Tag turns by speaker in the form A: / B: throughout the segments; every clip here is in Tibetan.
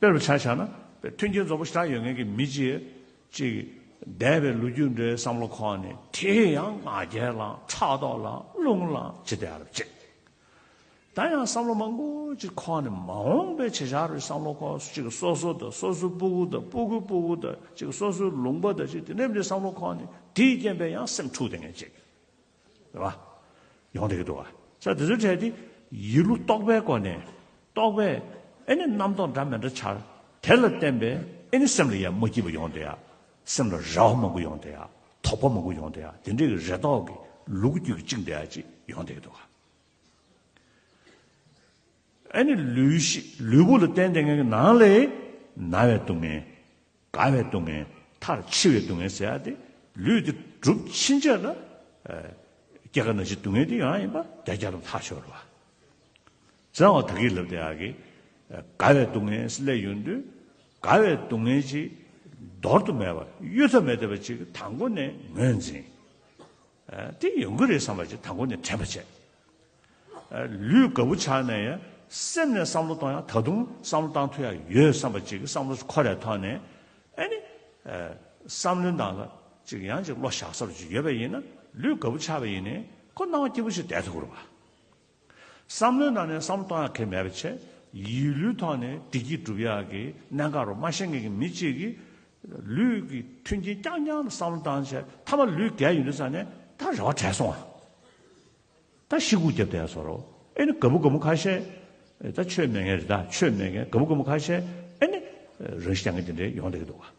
A: དཔེར་བྱ་བྱ་ན། མཐུན་རྐྱེན་འཛོམས་པོ་ཞེ་དྲག་ཡོད་མཁན་གྱི་མི་གཅིག་ཅིག་འདས་པའི་ལོ་རྒྱུས་འདྲའི་བསམ་བློ་ཁོག་ནས་དེ་ཡང་ང་རྒྱལ་ལ་ཕྲག་དོག་ལ་རླུང་ལ་ཇི་བདེ་རུ་བཅད། ད་ཡང་བསམ་བློ་མང་པོ་ཅིག་ཁོག་ནས་མ་འོངས་པའི་བྱེད་བྱ་རུ་བསམ་བློ་ཁོག་ཅིག་སོ་སོ་དང་སོ་སོའི་སྤུ་གུ་དང་སྤུ་གུའི་སྤུ་གུ་དང་ཅིག་སོ་སོའི་ལུང་པ་དང་ཅིག་དེ་འདྲའི་བསམ་བློ་ཁོག་ནས་དེའི་རྐྱེན་པས་ཡང་སེམས་འཁྲུགས་དེ་ངན་བཅད། རེད་བ། ཡོང་སྡད་ཀྱི་འདུག་བ། ས་དེ་ཚོའི་གྲས་དེ་ཡིད་བློ་རྟོག་པའི་སྒོ་ནས་རྟོག་པས་ཨེ་ནི་རྣམ་རྟོག་འདྲ་མི་འདྲ་འཆར། དེ་ལ་བརྟེན་པས་ཨེ་ནི་སེམས་ལ་ཡ་མ་སྐྱིད་པ་ཡོང་སྡད་ཡ། སེམས་ལ་རེ་བ་མང་པོ་ཡོང་སྡད་ཡ། དོགས་པ་མང་པོ་ཡོང་སྡད་ཡ་དེ་འདྲའི་གི་རེ་དོགས་ཀྱི་ལུག་རྒྱུད་ཀྱི་གཅིག་འདི་ཡ་ཅིག་ཡོང་སྡད་ཀྱི་འདུག་བ། ཨེ་ནི་ལུས་ལུས་པོ་ལ་བརྟེན་སྡད་ངན་གྱི་ནང་ལས་ན་བའི་སྡུག་བསྔལ། དགའ་བའི་སྡུག་བསྔལ་མཐར་འཆི་བའི་སྡུག་བསྔལ་ཟད་དེ། ལུས་འདི་གྲུབ་ཕྱིན་ཆད་ལ། སྐྱེ་རྒ་ན་འཆིའི་སྡུག་བསྔལ་དེ་ཡང་ཡིན་པ་བརྒྱ་རྒྱ་ལམ་ཐག་ཆོད་རོ། བཙན་འོག་དག་གིས་ལབ་དེ་ཡག་གི། དགའ་བའི་སྡུག་བསྔལ་སླད་ཡོད་འདོད། དགའ་བའི་སྡུག་བསྔལ་ཅི། འདོར་དུ་མེད་པ་གཡུལ་ཐབས་མེད་བདེ་བ་ཅིག་དང་པོ་ནས་ངོས་འཛིན། དེ་ཡོང་གི་རེད་བསམ་པ་ཞིག་དང་པོ་ནས་དྲན་པ་བྱས། ལུས་དགའ་བོ་ཆགས་ནས་ཡང་སེམས་ནས་བསམ་བློ་གཏོང་ཡང་ད་དུང་བསམ་བློ་གཏང་ཐུབ་ཡ་ཡོད་བསམ་པ་ཅིག་གི་བསམ་བློ་འཁོར་རེ་ཐོན་ནས་ཨེ་ནི། བསམ་བློའི་ནང་ལ་ཅིག་ཡང་ཅིག་བློ་བཞག་ས་རུ་ཅིག་ཡོད་པ་ཡིན་ན་ལུས་དགའ་བོ་ཆགས་པ་ཡིན་ནས་ཁོ་སྣང་བ་སྐྱིད་པོ་ཞིག་བསྡད་ཐུབ་ཀི་རུང་བ། བསམ་བློའི་ནང་ནས་བསམ་བློ་གཏོང་ཡག་གལ་མེད་པའི་ཆེད། ཡིད་ལུས་ཐོག་ནས་བདེ་སྐྱིད་སྒྲུབ་ཡག་གི་གནད་འགག་རུ་སྨྲ་ཤེས་མཁན་གྱི་མི་གཅིག་གིས། ལུས་ཀྱི་མཐུན་རྐྱེན་རྐྱང་རྐྱང་ལ་བསམ་བློ་བཏང་ཆེད་མཐའ་མ་ལུས་རྒས་ཡོད་འདུག་ས་ནས་ད་རེ་བ་བྲལ་སོང་ཨ། ད་ཤི་སྒུག་བརྒྱབ་བསྡད་སོང་རོགས་ཨེ་ནི་དགའ་བུ་དགའ་མོ་ཁ་ཤས། ད་ཆོས་མེད་མཁན་རེད་ད་ཆོས་མེད་མཁན་དགའ་བུ་དགའ་མོ་ཁ་ཤས་ཨེ་ནི། རང་ཤི་རྒྱག་མཁན་དེ་འདྲས་ཡོང་བསྡད་ཀྱི་འདུག་ཨ།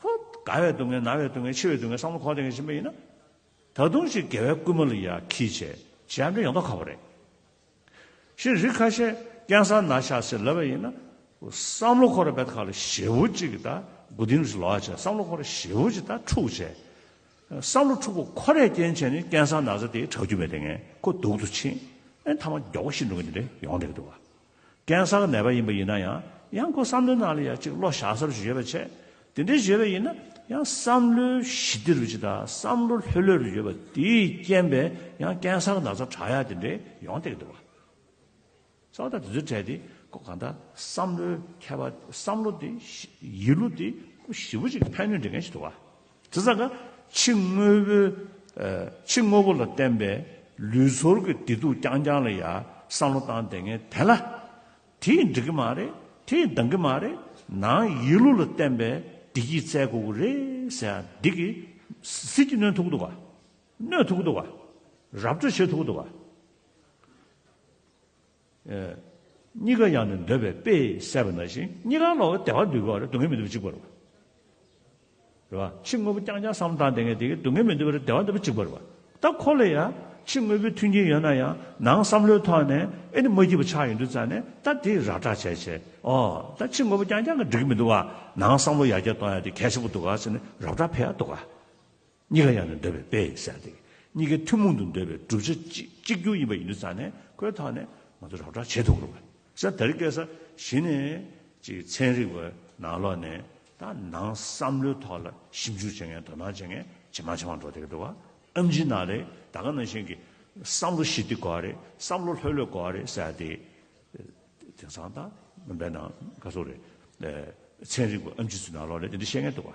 A: ཁོ། དགའ་བའི་སྡུག་བསྔལ་ན་བའི་སྡུག་བསྔལ་འཆི་བའི་སྡུག་བསྔལ་བསམ་བློ་གོང་ལྡན་གྱི་ཕྱིན་པ་ཡིན་ན། ད་དུང་ཅིག་དགེ་བའི་བསྐུལ་མ་ལ་ཡ་གིས་བྱས་བྱས་ཨ་འབྲས་ཡོང་ཐོག་ཁག་པོ་རེད། ཞེས་རིགས་ཁ་ཤས་ཀན་སར་ན་ཤ་ཟེར་ལབ་པ་ཡིན་ན། བསམ་བློ་འཁོར་བའི་ཁ་ལ་ཞེ་བོ་གཅིག་གིས་ད་དགུ་སྡིངས་རེས་ལོག་བྱས་བསམ་བློ་འཁོར་བ་ཞེ་བོ་གཅིག་ད་འཁྲུག་བྱས། བསམ་བློ་འཁྲུག་པོ་ཁོ་རས་རྐྱེན་བྱས་ནས་ཀན་སར་ན་ཟ་དེའི་ཁྲག་རྒྱུན་མེད་དེ་ངས་ཁོ་སྡུག་ཏུ་ཕྱིན། ཨེ་མཐའ་མ་མགྱོགས་པོ་ཤི་འགྲོ་གི་འདི་འདྲས་ཡོང་འགྲིག་གི་འདུག་བ། ཀན་སར་གནས་པ་ཡིན་པ་ཡིན་ན་ཡང་ཡང་སྒོ་བསམ་བློའི་ནང་ལ་ཡང་གཅིག་བློ་བཞག་སར་བཞོས་པ་བྱས། དེ་འདྲའི་བཞོས་པ་ཡིན་ན་ཡང་བསམ་བློའི་ཞི་བདེ་རུ་ཅིག་དང་བསམ་བློ་ལྷོད་ལྷོད་རུ་བཞོས་པ་དེས་རྐྱེན་པས་ཡང་ཀན་སར་ན་ཚ་དྲག་ཡ་དེ་འདྲས་ཡོང་སྟེ་འདུག་བ། ས་བདག་དེ་ཚོས་བྲལ་ཏེ་སྒོ་གང་དག་བསམ་བློའི་མཁས་པ་བསམ་བློ་དེ་ཡིད་བློ་དེ་སྐུ་ཞི་བོ་ཅིག་ཕན་ནུས་འདྲེན་མཁན་ཞིག་ཐུག་བ། དེ་ཙམ་ན་ཕྱི་དངོས་པོའིཕྱི་དངོས་པོ་ལ་བརྟེན་པའི་ལུས་ཚོར་གྱི་བདེ་སྡུག་རྐྱང་རྐྱང་ལ་ཡང་བསམ་བློ་བཏང་བསྡད་ངེས་དེ་ལ། དེས་འགྲིག་གི་མ་རེད་དེས་འདང་གི་མ་རེད་ནང་ཡིད་ལུས་ལ་བརྟེན་པའི་བདེ་སྐྱིད་བཙལ་དགོས་ཀྱི་རེད་ཟེར་ཡང་འགྲིག་གི། ཟིལ་གྱིས་གནོན་ཐུབ་ཀྱི་འདུག་ག། གནོད་ཐུབ་ཀྱི་འདུག་ག། རབ་སྤྲོད་བྱེད་ཐུབ་ཀྱི་འདུག་ག། གཉིས་ཀ་ཡང་ནི་འདོད་པའི་དཔེས་བསལ་བ་ན་བཞིན་གཉིས་ཀ་ལ་བདེ་བ་འདུལ་བ་རེ་སྡུག་བསྔལ་མི་འདུལ་བ་གཅིག་པར་རོ། རེ་བ་ཕྱི་དངོས་པོ་རྐྱང་རྐྱང་བསམ་བཏང་དེ་ངས་དེ་གའི་སྡུག་བསྔལ་མི་འདུལ་བ་རེ་བདེ་བ་འདུལ་བ་གཅིག་པར་རེ་བ་ལྟ་ཁོ་ལ་ཡང་ཕྱི་དངོས་པོའི་མཐུན་རྐྱེན་ཡོད་ན་ཡང་ནང་བསམ་བློའི་ཐོག་ནས་ཨེ་ནི་མ་སྐྱིད་པ་ཆགས་ཡོད་འདུག་ཙང་ནས་ལྟ་དེ་ར་བཀྲ་བྱས་བྱས་ཨོ་ད་ཕྱི་དངོས་པོ་རྐྱང་རྐྱང་གི་འགྲིག་མི་འདུག་བ་ནང་བསམ་བློ་ཡར་རྒྱས་གཏོང་ཡ་དེ་གལ་ཆེན་པོ་འདུག་ག་ཟེར་ནས་ར་བཀྲ་འཕེལ་ཡ་འདུག་ག། གཉིས་ཀ་ཡང་ནི་འདོད་པའི་དཔེ་ཡིན་ཟེར་ཏེ། གཉིས་ཀའི་ཐུན་མོང་དུ་འདོད་པའི་བསྒྲུབ་བྱ་གཅིག་གྱུར་ཡིན་པ་ཡིན་དུ་བཙལ་ནས་ཁོའི་ཐོག་ནས་ང་ཚོ་རབ་གྲགས་བྱེད་དུ་འགྲོ་བས་ས་དར་སྐྱེས་ས་གཞི་ནས་ཅིག་ཚན་རིག་པ་ནང་ལོག་ནས་ད་ནང་བསམ་བློའི་ཐོག་ལ་ཞིབ་འཇུག་བྱེད་མཁན་དོ་སྣང་བྱེད་མཁན་ཇེ་མང་ཇེ་མང་འགྲོ་བསྡད་འགྲོ་བ་ཨ་མཆིས་ནག་ལས་ད་ག་ནང་བཞིན་གྱི་བསམ་བློ་ཞི་བདེ་གོ་བ་རེད་བསམ་བློ་ལྷོད་ལྷོད་གོ་བ་རེད་ཟེར་ཏེ། དེང་སང་ད་སྨན་པའི་ནང་དཀའ་ཚོགས་རེད། ཚན་རིག་པ་ཨ་མཆིས་ཚོས་ནང་ལོག་ནས་དེ་འདྲ་བཤད་མཁན་འདུག་བ།